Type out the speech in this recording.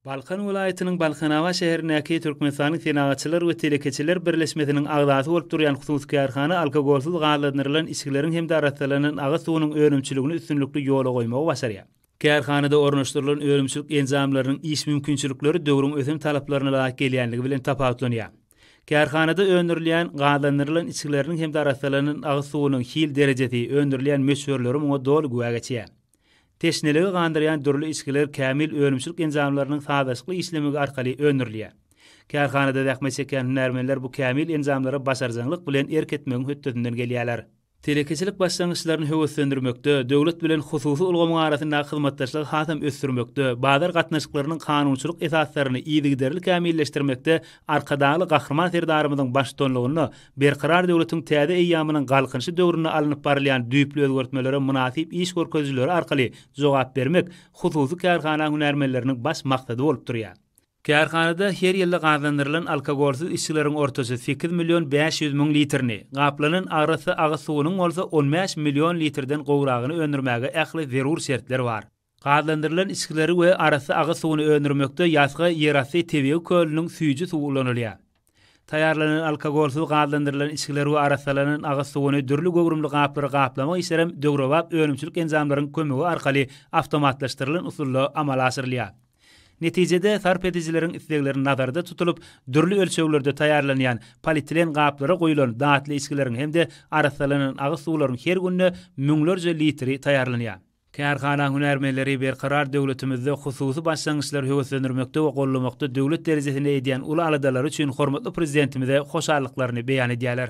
Balkan welaýatynyň Balkanabat şäherindäki Türkmenistanyň Senagatçylar we telekeçiler birleşmesiniň agzasy bolup durýan hususy kärhana alkogolsyz gazlandyrylan içgileriň hem-de arassalanan agyz suwunyň önümçiligini üstünlikli ýola goýmagy başarýar. Kärhanada ornaşdyrylan önümçilik enjamlarynyň iş mümkinçilikleri döwrüň ösen talaplaryna laýyk gelýänligi bilen tapawutlanýar. Kärhanada öndürilýän gazlandyrylan içgileriniň hem-de arassalanan agyz suwunyň hil derejesi, öndürilýän möçberleri muňa doly güwä geçýär. Teşneligi gandyrýan dürli içgiler Kämil önümçilik enjamlarynyň sazlaşykly işlemegi arkaly öndürilýär. Kärhanada zähmet çekýän hünärmenler bu kämil enjamlara başarjaňlyk bilen erk etmegiň hötdesinden gelýärler. Telekeçilik başlangyçlaryny höweslendirmekde, döwlet bilen hususy ulgamyň arasyndaky hyzmatdaşlygy hasam ösdürmekde, bazar gatnaşyklarynyň kanunçylyk esaslaryny yzygiderli kämilleşdirmekde Arkadagly Gahryman Serdarymyzyň baştutanlygynda Berkarar döwletiň täze eýýamynyň Galkynyşy döwründe alnyp barylýan düýpli özgertmelere mynasyp iş görkezijileri arkaly jogap bermek hususy kärhana hünärmenleriniň baş maksady bolup durýar. Kärhanada her ýylda gazandyrylan alkogolsyz içgileriň ortaça sekiz million bäş ýüz müň litrini, gaplanan arassa agyz suwunyň bolsa on bäş million litrden gowragyny öndürmäge ähli zerur şertler bar. Gazlandyrylan içgileri we arassa agyz suwuny öndürmekde Ýasga ýerasty tebigy kölüniň süýji suwy ulanylýar. Taýýarlanan alkogolsyz gazlandyrylan içgileri we arassalanan agyz suwuny dürli göwrümli gaplara gaplamak işlerem döwrebap önümçilik enjamlaryň kömegi arkaly awtomatlaşdyrylan usulda amala aşyrylýar. Netijede, sarp edijileriň islegleri nazarda tutulyp, dürli ölçeglerde taýýarlanýan polietilen gaplara guýulan datly içgileriň hem-de arassalanan agyz suwlaryň her günde müňlerje litri taýýarlanýar. Kärhana hünärmenleri Berkarar döwletimizde hususy başlangyçlary höweslendirmekde we goldamakda döwlet derejesinde edýän uly aladalary üçin hormatly Prezidentimize hoşallyklaryny beýan edýärler.